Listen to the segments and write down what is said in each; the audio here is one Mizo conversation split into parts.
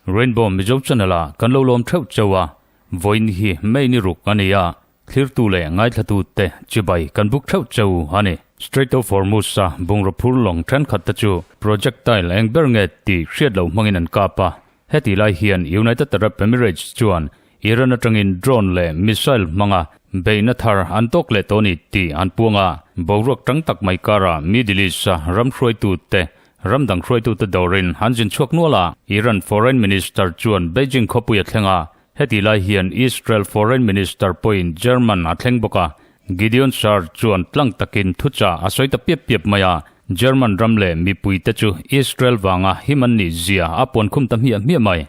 Rainbow Mizo Channel a kan lo lawm theuh cheu a, vawiin hi main i ruk a ni a, thlirtu leh ngaithlatute chibai kan buk theuh cheu a ni. Strait of Hormuz-a bungraw phur lawng thenkhat te chu projectile eng ber nge tih hriat loh hmangin an kap a, heti lai hian United Arab Emirates chuan Iran atangin drone leh missile hmanga beihna thar an tawk leh tawh a ni tih an puang a, boruak tang tak mai karah Middle East-a ram hruaitute ram dang hruaitute dawrin an zin chhuak nual a. Iran Foreign Minister chuan Beijing khawpui a thleng a, heti lai hian Israel Foreign Minister pawhin German a thleng bawk a. Gideon Saar chuan tlang takin thuchah a sawi ta piap piap mai a, German ram leh mipuite chu Israel vanga him an nihzia a puan khum ta hmiah hmiah mai.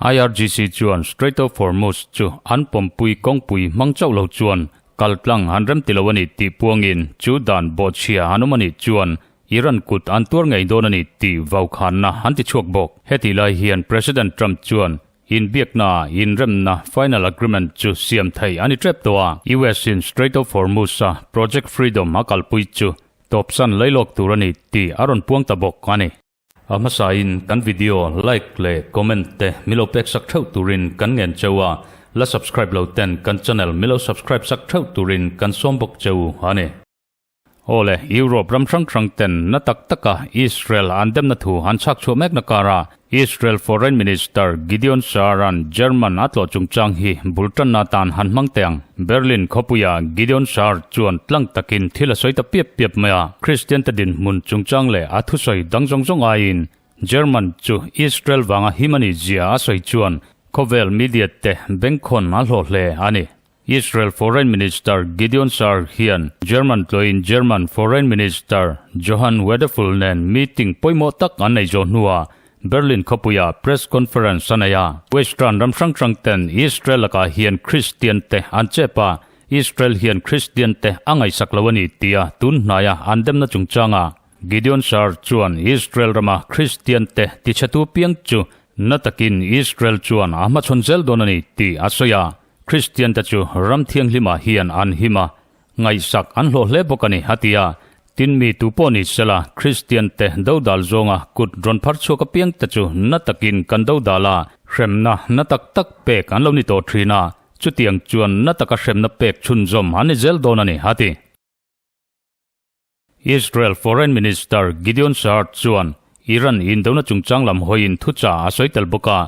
IRGC chuan Strait of Hormuz chu an pawmpui kawngpui hmang chauh lo chuan kaltlang an rem ti lo a ni tih puangin chu dan bawhchhia an awm a nih chuan Iran kut an tuar ngei dawn a ni tih vau khanna an ti chhuak bawk. Heti lai hian President Trump chuan inbiakna a inremna final agreement chu siam theih a ni tep tawh a, US-in Strait of Hormuz-a Project Freedom a kalpui chu tawpsan lei lawk tur a ni tih a rawn puang ta bawk a ni. A hmasain kan video like leh comment te milo pek sak theuh turin kan ngen cheu a, la subscribe lo ten kan channel milo subscribe sak theuh turin kan sawm bawk cheu a ni. Aw le, Europe ram hrang hrang ten na tak taka Israel an demna thu an chhak chhuah mekna kara Israel Foreign Minister Gideon Sa'aran German a tlawh chungchang hi bul tanna tan han hmang teh ang. Berlin khawpuia Gideon Schar chuan tlang takin thil a sawi ta piap piap mai a, Kristiante dinhmun chungchang leh a thusawi dang zawng zawng aiin German chu Israel vanga him a ni zia a sawi chuan khawvel mediate bengkhawn a hlaw hle a ni. Israel Foreign Minister Gideon Schar hian German tluaiin German Foreign Minister Johann Wedeful nen meeting pawimawh tak an nei zawh hnuah Berlin khawpuia Press Conference a nei a, Western ram hrang hrang ten Israel lakah hian Kristian te an chep a, Israel hian Kristian te a ngaihsak lo a ni tia tun hnaia an demna chungchanga Gideon Saar chuan Israel rama Kristian te tichhetu piang chu na takin Israel chuan a hmachhawn zel dawn a ni tih a sawi a, Kristian te chu ram thianghlimah hian an him a, Ngaihsak an hlawh hle bawk a ni, a ti a. Tin mi tu pawh ni sela, Kristiante dodal zawnga kut rawn phar chhuak apiang te chu na takin kan dodal a, hremna na tak tak pek an lo ni tawh thin a, chutiang chuan na taka hremna pek chhunzawm an ni zel dawn a ni, a ti. Israel Foreign Minister Gideon Saar chuan Iran indona chungchang lam hawiin thu chah a sawi tel bawk a,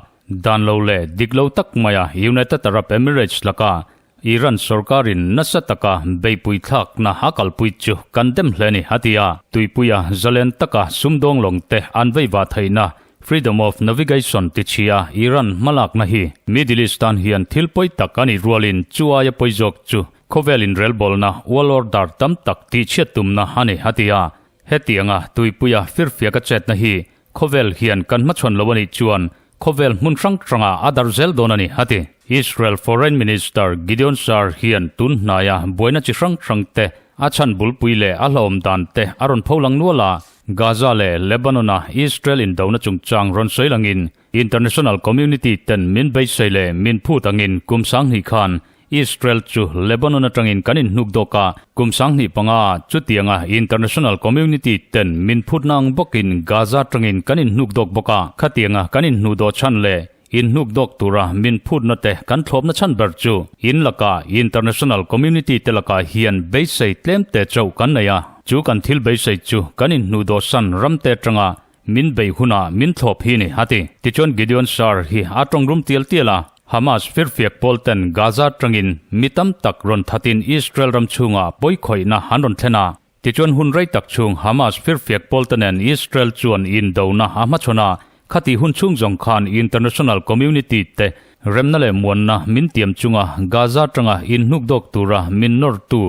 dan lo leh dik lo tak maia United Arab Emirates laka Iran sorkarin nasa taka beipui thlakna a kalpui chu kan dem hle a ni, a ti a. Tuipuia zalen taka sumdawng lawngte an veiva theihna, freedom of navigation tichhia Iran hmalakna hi Middle East tan hian thil pawi tak a nih rualin chu aia pawi zawk chu Khawvel inrelbawlna, world order, tam tak tihchhiat tumna a ni, a ti a. Hetianga tuipuia firfia ka chetna hi khawvel hian kan hmachhawn lo a nih chuan khawvel hmun hrang hranga a dar zel dawn a ni, a ti. Israel Foreign Minister Gideon Saar hian tun hnaia buaina chi hrang hrangte, a chhan bulpui leh a hlauhawm dante a rawn pho lang nual a, Gaza leh Lebanon-a Israel indona chungchang rawn sawi langin international community-ten min beisei leh min phut angin kum sanghnih khan Israel chu Lebanon atangin kan inhnuk dawk a, kum sanghnih panga chutianga international community ten min phutna ang bawkin Gaza atangin kan inhnuk dawk bawk a, khatianga kan inhnu dawh chhan leh inhnuk dawk tura min phutna te kan thlawpna chhan ber chu in lakah international community te lakah hian beisei tlemte chauh kan nei a, chu kan thil beisei chu kan inhnu dawhsan ramte atanga Min bei hunah min thlawp hi ni, a ti. Tichuan Gideon Saar hi a tawng rum tial tial a, Hamas firfiak pawl ten Gaza tangin mi tam tak rawn thatin Israel ram chhungah pawi khawihna an rawn thlen a, tichuan hun rei tak chung Hamas firfiak pawl te nen Israel chuan in dona a hmachhawn a, khati hun chhung zawng khan international community te remna leh muanna min tiam chunga Gaza tanga in hnukdawk tura min nawrtu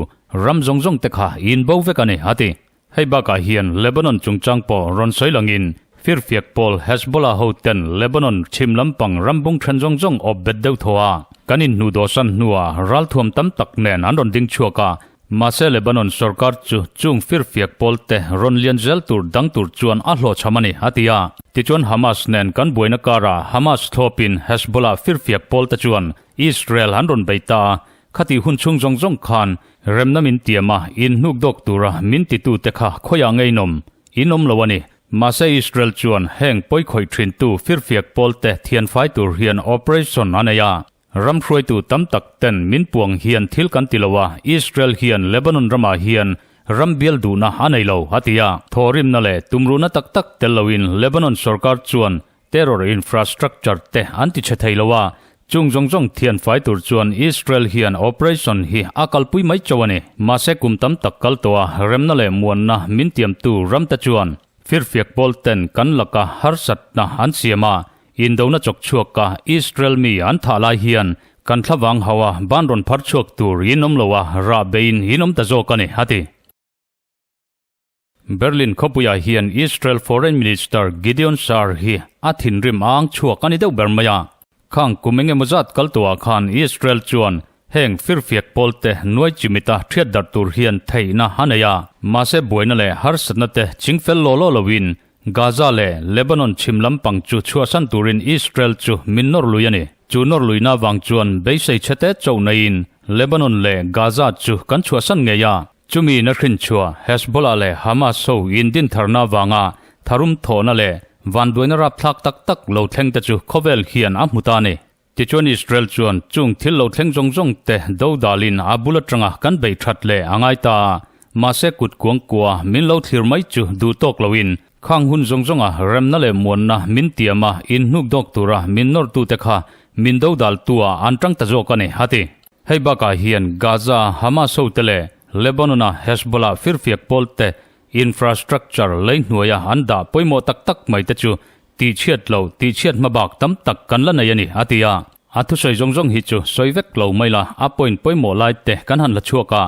ram zawng zawng te kha in bo vek a ni, a ti. Hei bakah hian Lebanon chungchang pawh rawn sawi langin firfiak pawl Hezbollah ho ten Lebanon chhim lampang rambung then zawng zawng awp bet deuh thaw a kan inhnu dawhsan hnua ralthuam tam tak nen an rawn ding chhuak a, mahse Lebanon sawrkar chu chung firfiak pawl te rawn lian zel tur dang tur chuan a hlawhchham a ni, a ti a. Tichuan Hamas nen kan buaina karah Hamas thlawpin Hezbollah firfiak pawl te chuan Israel an rawn bei ta a, Khati hun chhung zawng zawng khan remna min tiam a, in hnukdawk tura min titute kha khawiah ngeihnawm in awm lo a ni. Mahse Israel chuan heng pawi khawih thintu firfiak pawlte thianfai tur hian operation a nei a. Ram hruaitu tam tak ten min puang hian thil kan ti lo a, Israel hian Lebanon ramah hian ram bial duhna a nei lo, a ti a. Thawhrimna leh tumruhna tak tak tel loin Lebanon sorkar chuan Terror infrastructure te an ti chhe thei lo a, chung zawng zawng thianfai tur chuan Israel hian operation hi a kalpui mai chauh a ni. Mahse kum tam tak kal tawh a, remna leh muanna min tiamtu ram te chuan firfiak pawl ten kan laka harsatna an siam a, indona chawk chhuak a Israel mi an thah lai hian kan thla vang hauh a, ban rawn phar chhuak tur in awm lo a, rah be in in awm ta zawk a ni, a ti. Berlin khawpuiah hian Israel Foreign Minister Gideon Saar hi a thinrim âng chhuak a ni deuh ber mai a. Khang kum eng emaw zat kal tawhah khan Israel chuan heng firfiak pawlte nuai chimita ṭhiatdarh tur hian theihna a nei a. Mahse buaina leh harsatna te ching fel law law loin Gaza leh Lebanon chhim lampang chu chhuahsan turin Israel chu min nawr lui a ni. Chu nawr luina vang chuan beisei chhe te chauh naihin Lebanon leh Gaza chu kan chhuahsan ngei a. Chumi na hrinchhuah Hezbollah leh Hamas ho indintharna avanga tharum thawhna leh vanduaina rapthlak tak tak lo thleng te chu khawvel hian a hmu ta a ni. Tichuan Israel chuan chung thil lo thleng zawng zawng te do dalin a bul atanga kan bei that leh a ngai ta a, mahse kut kuang kua min lo thlir mai chu duh tawk loin khang hun zawng zawnga remna leh muanna min tiam a, inhnuk dawk tura min nawrtute kha min do dal tua an tang ta zawk a ni, a ti. Hei bakah hian Gaza-ah Hamas hote leh Lebanon-ah Hezbollah firfiak pawl te infrastructure lei hnuaia an dah pawimawh tak tak mai te chu tihchhiat lo, tihchhiat hma bak tam tak kan la nei a ni, a ti a. A thusawi zawng zawng hi chu sawi vek lo mai la, a point pawimawh lai te kan han la chhuak a,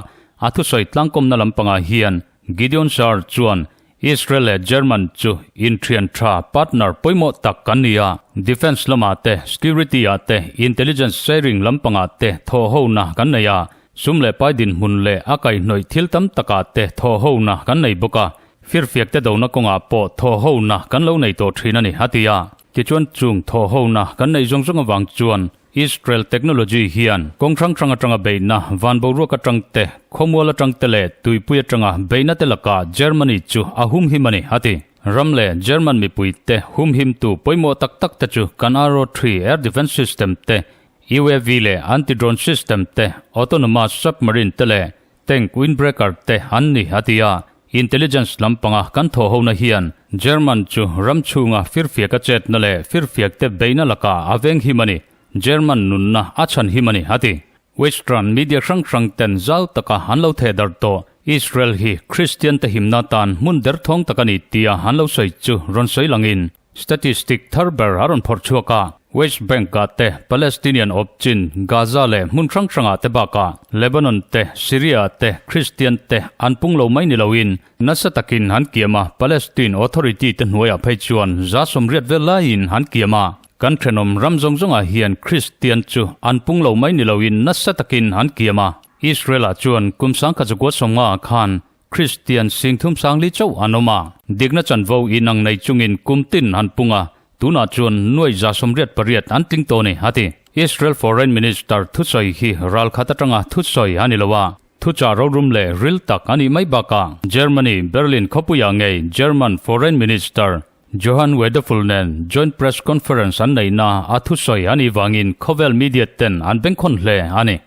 a thusawi tlangkawmna lampangah hian Gideon Saar chuan Israel leh German chu inthian tha partner pawimawh tak kan ni a, defence lamah te, security ah te, intelligence sharing lampangah te thawhhona kan nei a, sum leh pai dinhmun leh a kaihnawih thil tam takah te thawhhona kan nei bawk a, firfiak te dona kawngah pawh thawhhona kan lo nei tawh thin a ni, a ti a. Tichuan, chung thawhhona kan neih zawng zawng avang chuan, Israel technology hian kawng hrang hrang atanga beihna, van boruak atang te, khawmual atang te leh tuipui atanga beihna te lakah Germany chu a humhim a ni, a ti. Ram leh German mipui te humhimtu pawimawh tak tak te chu kan Arrow three air defence system te, UAV leh anti-drone system te, autonomous submarine te leh Tank windbreaker te an ni a ti a. Intelligence lam panga kan thawhona hian German chu ram chhunga firfiaka chetna leh firfiak te beihna laka a veng him a ni. German nunna a chhan him a ni a ti. Western media hrang hrang ten zau taka an lo theh darh tawh. Israel hi Kristian te himna atan hmun derthawng tak a ni tia an lo sawi chu rawn sawi langin Statistic thar ber a rawn phawrh chhuak a, West Bank-ah te, Palestinian awp chin Gaza leh hmun hrang hrangah te bakah, Lebanon te, Syria-ah te, Kristian te an pung lo mai ni loin, nasa takin han kiam a, Palestine Authority te hnuaiah phei chuan zasawm riat vel laiin han kiam a, kan thenawm ram zawng zawngah hian Kristian chu an pung lo mai ni loin nasa takin han kiam a, Israel-ah chuan kum sangkhat zakua sawmnga khan Kristian singthum sangli chauh an awm a. Dikna chanvo inang nei chungin kum tin han pung a, tunah chuan nuai za sawmriat pariat an tling tawh ni, a ti. Israel Foreign Minister thusawi hi ral khat atanga thusawi a ni lo a, thuchah rorûm leh ril tak a nih mai bakah Germany Berlin khawpuiah ngei German Foreign Minister Johann Wedeful nen Joint Press Conference an neihna a thusawi a nih vangin khawvel media-ten an bengkhawn hle a ni.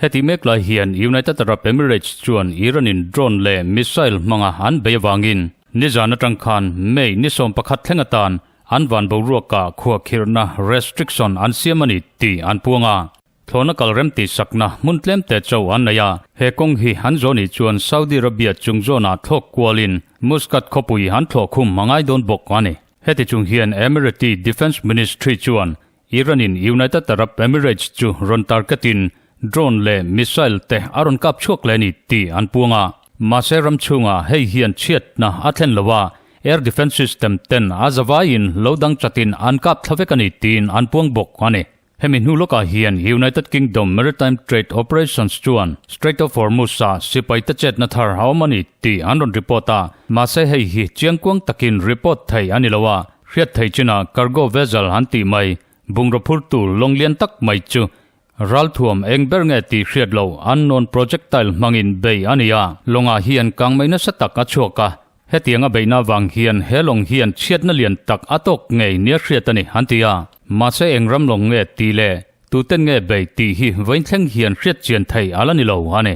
Heti mek lai hian United Arab Emirates chuan Iranin drone leh missile hmanga an bei avangin nizan atang khan May ni sawm pakhat thleng atan an van boruakah khua khirhna restriction an siam a ni tih an puang a. Thlawna kal rem tih sakna hmun tlem te chauh an nei a, he kawng hi an zawh nih chuan Saudi Arabia chung zawnah thlawk kualin Muscat khawpui an thlawh khum a ngai dawn bawk a ni. Heti chung hian Emirati Defence Ministry chuan Iran-in United Arab Emirates chu rawn target in drone leh missile te a rawn kap chhuak leh a ni tih an puang a. Mahse ram chhungah hei hian chhiatna a thlen lo a, air defence system ten a zavaiin lo dang chatin an kap thla vek a ni tiin an puang bawk a ni. Hemi hnu lawkah hian United Kingdom Maritime Trade Operations chuan Strait of Hormuz-a sipaite chetna thar a awm a ni tih an rawn report a, mahse hei hi chiang kuang takin report theih a ni lo a. Hriat theih china cargo vessel han tih mai, bungraw phur tur lawng lian tak mai chu ral thuam eng ber nge tih hriat loh unknown projectile hmangin beih a ni a. Lawngah hian kang mai nasa tak a chhuak a, hetiang a beihna vang hian he lawng hian chhiatna lian tak a tawk ngei nia hriat a ni an ti a. Mahse eng ram lawng nge tih leh tuten nge beih tih hi vawi thleng hian hriat chian theih a la ni lo a ni.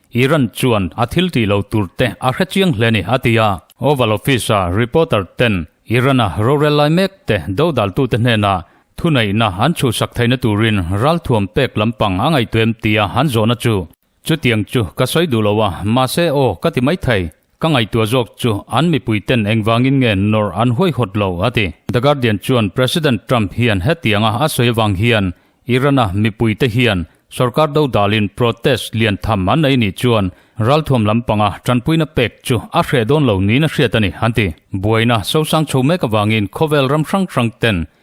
Iran chuan a thiltih lo tur te a hre chiang hle ni, a ti a. Oval Office-a reporter ten Iran-a rorel lai mek te dodaltute hnena thuneihna an chhuhsak theihna turin ralthuam pek lampang a ngaihtuem tia an zawhna chu chutiang chu ka sawi duh lo a, mahse aw ka ti mai thei, Ka ngaihtuah zawk chu an mipui ten engvangin nge nawr an huaihawt lo? a ti. The Guardian chuan President Trump hian hetianga a sawi avang hian Iran-a mipuite hian sorkar do dalin protest lian tham an nei nih chuan ralthuam lampanga tanpuina pek chu a hreh dawn lo niin a hriat a ni, an ti. Buaina sosang chho mek avangin khawvel ram hrang hrang ten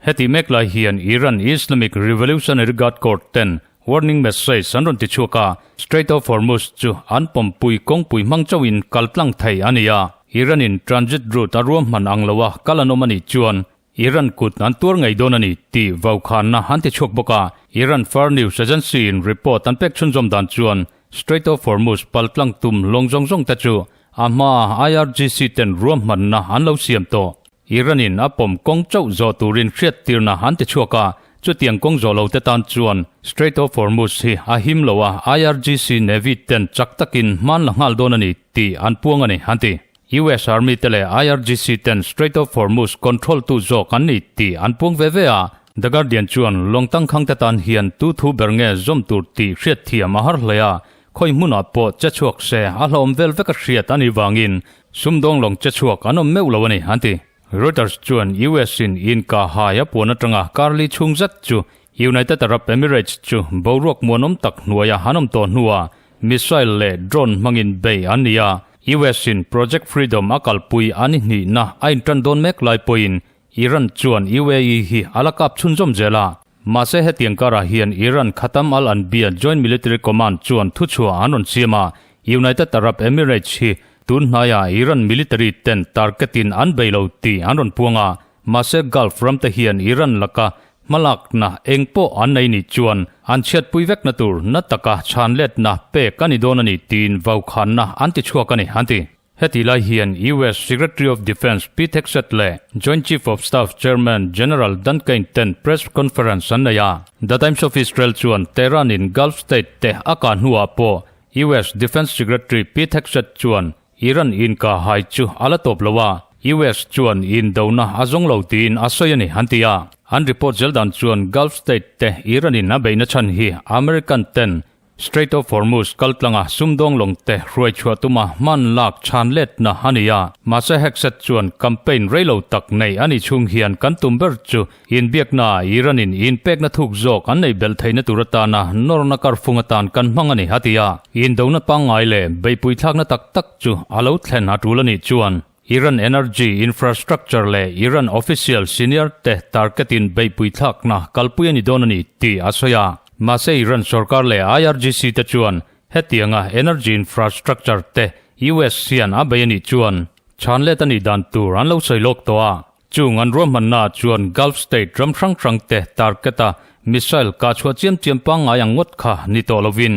Heti mek lai hian Iran Islamic Revolutionary Guard Corps ten warning message an rawn ti chhuak a, Strait of Hormuz chu an pawmpui kawngpui hmang chauh in kal tlang thei a ni a. Iran in transit route a ruam hman ang lo a kal an awm a nih chuan Iran kut an tuar ngei dawn a ni tih vau khanna an ti chhuak bawk a. Iran far news agency in report an pek chhunzawm dan chuan Strait of Hormuz pal tlang tum lawng zawng zawng te chu a hmaa IRGC ten ruam hmanna an lo siam tawh. Iran in a pawm kawng chauh zawh turin hriat tirna an ti chhuak a, chutiang kawng zawh lote tan chuan Strait of Hormuz hi a him lo a, IRGC Navy ten chak takin hmanla nghal dawn a ni tih an puang a ni, an ti. US Army te leh IRGC ten Strait of Hormuz control tu zawk an ni tih an puang ve ve a, The Guardian chuan lawng tangkhangte tan hian tu thu ber nge zawm tur tih hriatthiam a har hlei a, khawi hmunah pawh che chhuak se a hlauhawm vel veka hriat a nih vangin Sumdawng lawng che chhuak an awm meuh lo a ni, an ti. Reuters chuan US-in inka hai a puan atanga Karli chhung zet chu United Arab Emirates chu boruak muanawm tak hnuaia an awm tawh hnua missile leh drone hmangin bei an ni a, US-in Project Freedom a kalpui a ni hnihna a inṭan dawn mek lai pawhin Iran chuan UAE hi a la kap chhun zawm zel a, mahse hetiang karah hian Iran Khatam al-Anbiya Joint Military Command chuan thuchhuah an rawn siam a, United Arab Emirates hi tun hnaia Iran military ten target in an bei lo tih an rawn puang a, mahse Gulf ram te hian Iran laka hmalakna eng pawh an nei nih chuan an chhiatpui vekna tur na taka chhanletna pek a ni dawn a ni tiin vaukhanna an ti chhuak a ni, an ti. Heti lai hian US Secretary of Defence Pete Hegseth leh Joint Chief of Staff Chairman General Dan Cain ten press conference an nei a. The Times of Israel chuan Tehran-in Gulf state teh a kah hnuah pawh US Defence Secretary Pete Hegseth chuan Iran inkah hai chu a la tawp lo a, US chuan i indona a zawng lo tiin a sawi a ni, an ti a. An report zel dan chuan Gulf state teh Iran-in a beihna chhan hi American ten Strait of Hormuz kaltlanga sumdawng lawngte hruaichhuah tuma hman lak chhan letna a ni a. Mahse Hegseth chuan campaign rei lo tak neih a nih chung hian kan tum ber chu inbiaknaah Iran-in inpekna thuk zawk an neih belh theihna tur atana nawrna kar fung atan kan hmang a ni, a ti a. Indona pangngai leh beihpuithlakna tak tak chu a lo thlen a tul a nih chuan. Iran Energy Infrastructure leh Iran Official Senior te tarketin beihpui thlakna kalpui a ni dawn a ni tih a sawi a. Mahse Iran sorkar leh IRGC te chuan hetianga energy infrastructure te US hian a bei a nih chuan chhanlet a nih dan tur an lo sawi lawk tawh a. Chung an ruahmannaah chuan Gulf State ram hrang hrangte target-a missile kah chhuah chiam chiam pangngai ang ngawt kha ni tawh lovin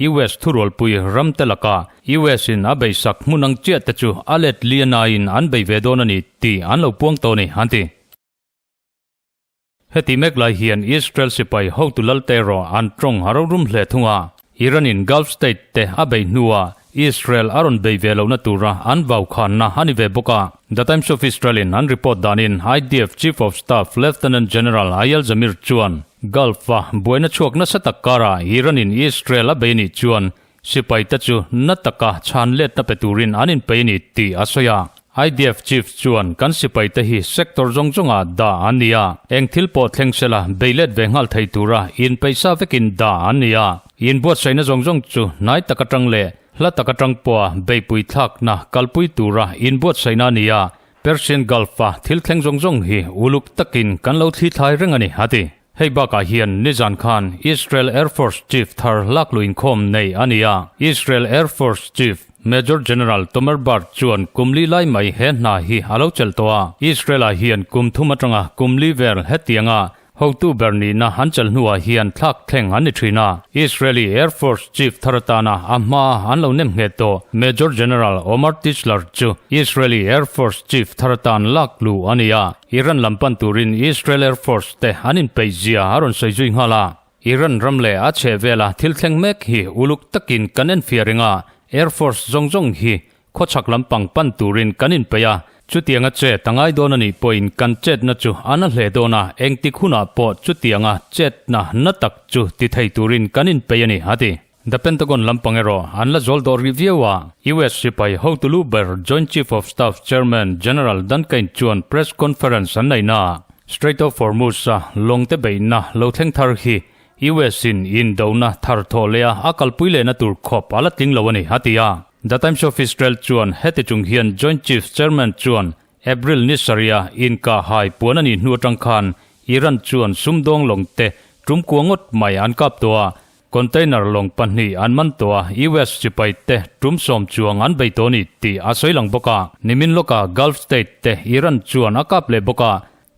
US thurualpui ramte lakah US-in a beisak hmun ang chiah te chu a let lian aiin an bei ve dawn a ni tih an lo puang tawh a ni, an ti. Heti mek lai hian Israel sipai hotu lalte erawh an tawng a rorûm hle thung a, Iran-in Gulf State te a bei hnua Israel a rawn bei ve lohna tura an vau khanna a ni ve bawk a. The Times of Israel-in an report danin IDF Chief of Staff Lieutenant General Eyal Zamir chuan Gulf-a buaina chhuak nasa tak karah Iran-in Israel a bei anih chuan Sipaite chu na taka chhan letna pe turin an inpe a ni tih a sawi a. IDF Chief chuan kan sipaite hi sector zawng zawngah dah an ni a, eng thil pawh thleng sela bei let ve nghal thei tura in peih sa vekin dah an ni a. In buatsaihna zawng zawng chu hnai tak atang leh hla tak atang pawha beipui thlakna kalpui tura in buatsaihna a ni a, Persian Gulf-a thil thleng zawng zawng hi uluk takin kan lo thlithlai reng a ni a ti. Hei bakah hian nizan khan Israel Air Force Chief thar lak luh inkhawm nei a ni a. Israel Air Force Chief Major General Tomer Bar chuan kumli lai mai he hna hi a lo chelh tawh a, Israel-ah hian kum thum atanga kumli vel hetianga hotu ber nihna an chelh hnuah hian thlak thleng an ni thin a. Israeli Air Force Chief thar atana a hma a an lo nem nghet tawh Major General Omar Tischler chu Israeli Air Force Chief thar atan lak luh a ni a. Iran lam pan turin Israel Air Force te an inpeih zia a rawn sawi zui nghal a, Iran ram leh a chhehvela thil thleng mek hi uluk takin kan en fiah reng a, Air Force zawng zawng hi khawchhak lampang pan turin kan inpeih a, chutianga chet a ngai dawn anih pawhin kan chetna chu a na hle dawn a, engtik hunah pawh chutianga chetna na tak chu ti thei turin kan inpeih a ni, a ti. The Pentagon lampang erawh an la zawl dawh rih viau a, US sipai hotulu ber Joint Chief of Staff Chairman General Dan Cain chuan press conference an nei naah Strait of Hormuz-a lawngte beihna lo thleng thar hi US-in indona thar thawh leha a kalpui lehna tur khawp a la tling lo a ni, a ti a. The Times of Israel chuan heti chung hian Joint Chief Chairman chuan April ni sarhia inkah hai puan a nih hnu atang khan Iran chuan sumdawng lawngte tumkua ngawt mai an kap tawh a, Container lawng pahnih an man tawh a, US sipai te tum sawm chuang an bei tawh a ni tih a sawi lang bawk a, nimin lawkah Gulf State te Iran chuan a kap leh bawk a,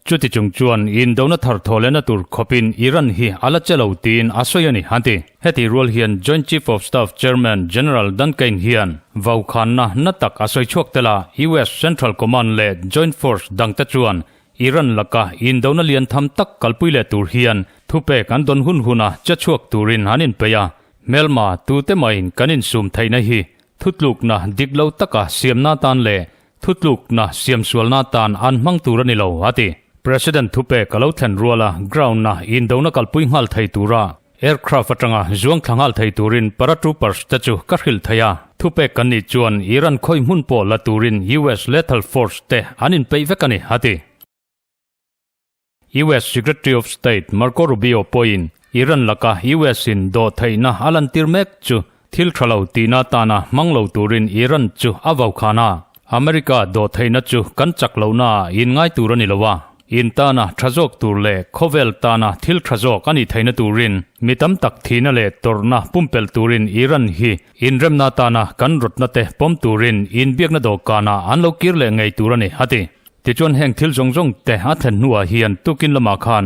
chuti chung chuan indona thar thawhlehna tur khawpin Iran hi a la che lo tiin a sawi a ni, an ti. Heti rual hian Joint Chief of Staff Chairman General Dan Cain hian vau khanna hna tak a sawi chhuak tel a, US Central Command leh Joint Force dangte chuan Iran laka indona lian tham tak kalpui leh tur hian thupek an dawn hun huna che chhuak turin an inpeih a. Hmelma tute mahin kan insum theihna hi thutlukna dik lo taka siamna atan leh thutlukna siamsualna atan an hmang tur a ni lo, a ti. President thupek a lo thlen rual a, ground-a indona kalpui nghal thei turah Aircraft atanga zuang thla nghal thei turin paratroopers te chu ka hrilh thei a, thupek kan nih chuan Iran khawi hmun pawh la turin US Lethal Force te an inpeih vek a ni, a ti. US Secretary of State Marco Rubio pawhin Iran laka US-in dawhtheihna a lantir mek chu Thil tha lo tihna tana hmang lo turin Iran chu a vau khan a, America dawh theihna chu kan chak lohnaah in ngai tur a ni lo a, in tana tha zawk tur leh khawvel tana thil tha zawk a nih theihna turin mi tam tak thihna leh tawrhna pumpelh turin Iran hi inremna tana kan rawtna te pawm turin in biakna dawhkanah an lo kir leh ngei tur a ni a ti. Tichuan heng thil zawng zawng te a thlen hnuah hian tukin lamah khan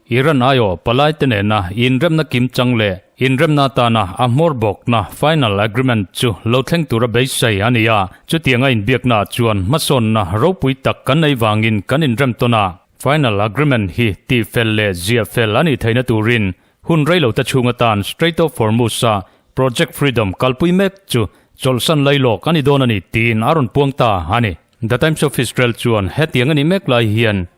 Iran aiawh palai te nena inremna kim chang leh inremna atana a hmawr bawkna, final agreement, chu lo thleng tura beisei a ni a. Chutianga inbiaknaah chuan hmasawnna ropui tak kan nei vangin kan inrem tawn a. Final agreement hi tihfel leh ziah fel a nih theihna turin hun reilo te chhung atan Strait of Hormuz-a Project Freedom kalpui mek chu chawlhsan lai lawk a ni dawn a ni tiin a rawn puang ta a ni. The Times of Israel chuan hetiang a nih mek lai hian,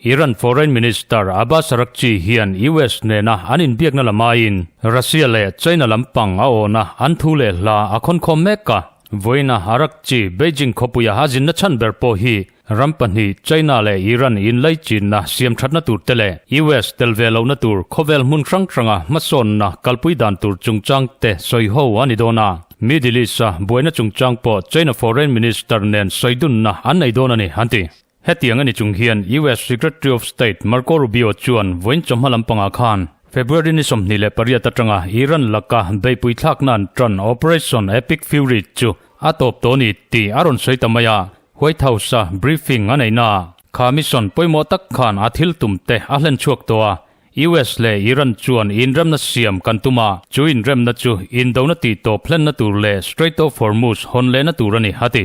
Iran Foreign Minister Abbas Araghchi hian US nena an inbiakna lamaiin Russia leh China lampang a awna an thu leh hla a khawn khawm mek a. Vawiina Araghchi Beijing khawpuiah a zinna chhan ber pawh hi ram pahnih China leh Iran inlai chinna siam thatna tur te leh US tel ve lohna tur khawvel hmun hrang hranga hmasawnna kalpui dan tur chungchang te sawi ho a ni dawn a. Middle East-a buaina chungchang pawh China Foreign Minister nen sawi dunna an nei dawn a ni, an ti. Hetiang a ni chung hian US Secretary of State Marco Rubio chuan vawiin chawhma lampangah khan February ni sawmhnih leh pariat atanga Iran laka beihpui thlakna an tan Operation Epic Fury chu a tawp tawh a ni tih a rawn sawi ta mai a, White House-a briefing a neihna kha mission pawimawh tak khan a thiltum te a hlen chhuak tawh a, US leh Iran chuan inremna siam kan tum a, chu inremna chu indona tihtawp hlenna tur leh Strait of Hormuz hawn lehna tur a ni, a ti.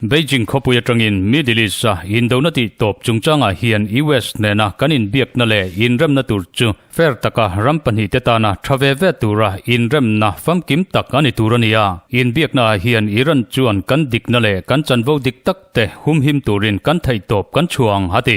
Beijing khawpui atangin Middle East-a indona tih tawp chungchangah hian US hnena kan inbiakna leh inremna tur chu fair taka ram pahnihte tana tha ve ve tura inremna famkim tak a ni tur a ni a. Inbiaknaah hian Iran chuan kan dikna leh kan chanvo dik takte humhim turin kan theihtawp kan chhuah ang, a ti.